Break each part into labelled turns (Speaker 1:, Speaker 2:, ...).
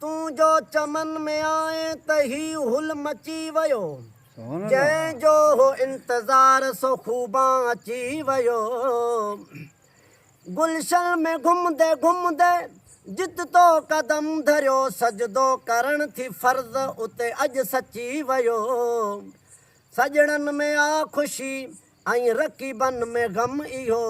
Speaker 1: تون جو چمن ۾ آئين ته هي هل مچي ويو. جنهن جو هو انتظار سو خوبان اچي ويو. گلشن ۾ گهمندي گهمندي جت تو قدم ڌريو سجدو ڪرڻ ٿي فرض اتي اڄ سچي ويو. سڄڻن ۾ آ خوشي. ۽ رقيبن ۾ غم اهو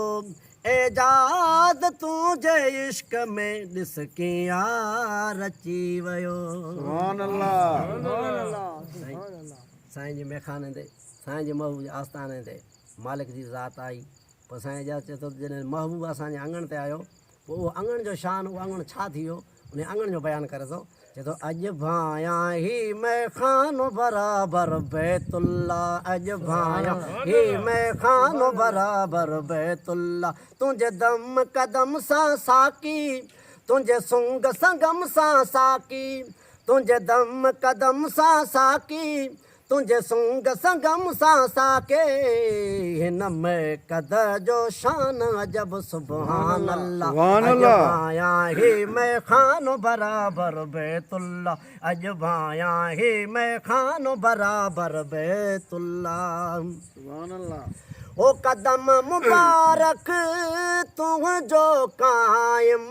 Speaker 1: اعجاز تون جي عشق ۾ ڏس ڪيئن يار اچي ويو. سبحان الله. سائين جي ميخاني تي سائين جي محبوب جي آستاني تي مالڪ جي ذات آئي پوء سائين اعجاز چئي ٿو ته جڏهن محبوب اسان جي اڱڻ تي آيو پوء اهو اڱڻ جو شان، اهو اڱڻ ڇا ٿي ويو، انهيء اڱڻ جو بيان ڪري ٿو، چئي ٿو، اڄ ڀانئيان هي مئخانو برابر بيت الله، اڄ ڀانئيان هي مئخانو برابر بيت الله، تنهنجي دم قدم سان ساقي، تنهنجي سنگ سنگم سان ساقي، تنهنجي دم قدم سان ساقي، تنهنجي سونگ سنگم سان ساقي هن ميقد جو شان عجب سبحان الله اڄ ڀانئيان هي ميخانو برابر بيت الله اڄ ڀانئيان هي ميخانو برابر بيت الله
Speaker 2: او قدم
Speaker 1: مبارڪ تنهنجو قائم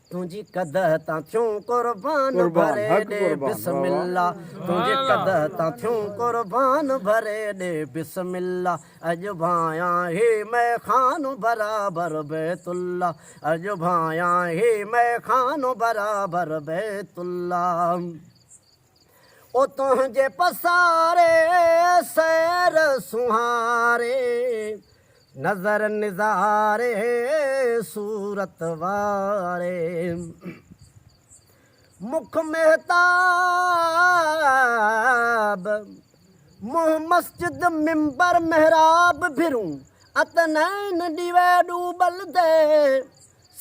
Speaker 1: تنهنجي قده تان ٿيون قربان ڀري ڏي بسم
Speaker 2: الله
Speaker 1: تنهنجي قده تان ٿيون قربان ڀري ڏي بسم الله اڄ ڀانئيان هي مئخانو برابر بيت الله اڄ ڀانئيان هي مئخانو برابر بيت الله. او تنهنجي پساري سير سونهاري نظر نظاري صورت واري مک مهتاب منهن مسجد منبر محراب ڀرون اتنين ڏيوي ڏوبل دي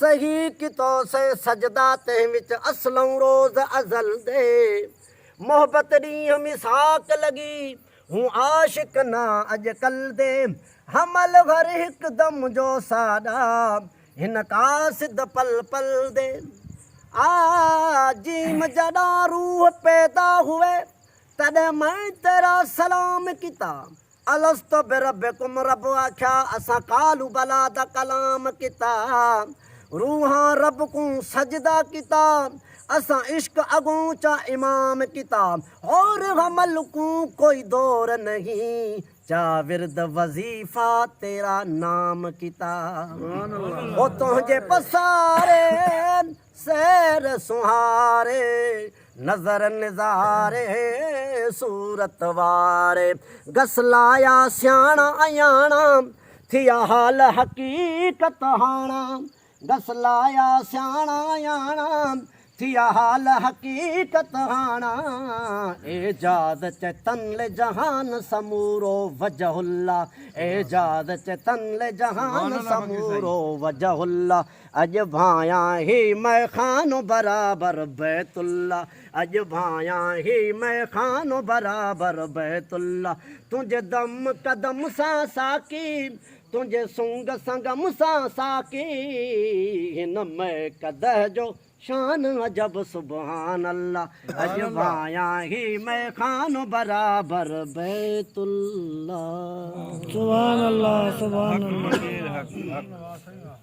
Speaker 1: سهي ڪي تو سين سجدا تنهن وچ اسلئون روز ازل دي محبت ڏينهن ميثاق لڳي هون عاشق نه اڄ ڪل دي حمل هر هڪ دم جو ساڏا هن قاصد پل پل دي آ جيم جڏان روح پيدا هئي تڏهن مئن تيرا سلام ڪيتا. الست بربکم رب آکيا اسان قالو بلا دا ڪلام ڪيتا روحان رب ڪون سجدا ڪيتا اسان عشق اڳون چا امام ڪيتا حور حمل ڪون ڪوئي دور نهين چا ورد وظيفا تيرا نام ڪيتا او تنهنجي پساري سير سونهاري نظر نظاري صورت واري گس لايا سياڻا اياڻا ٿيا حال حقيقت هاڻا گس لايا سياڻا اياڻا ٿيا حال حقيقت هاڻا اعجاز چيتن لي جهان سمورو وجه الله اعجاز چيتن لي جهان سمورو وجه الله اڄ ڀانئيان هي مئخانو برابر بيت الله اڄ ڀانئيان هي مئخانو برابر بيت الله تنهنجي دم قدم سان ساقي تنهنجي سنگ سنگم سان ساقي هن مئي قدح جو شان عجب سبحان الله اڄ ڀانئيان هي مئخانو برابر بيت
Speaker 3: الله سبحان الله
Speaker 1: سبحان
Speaker 3: الله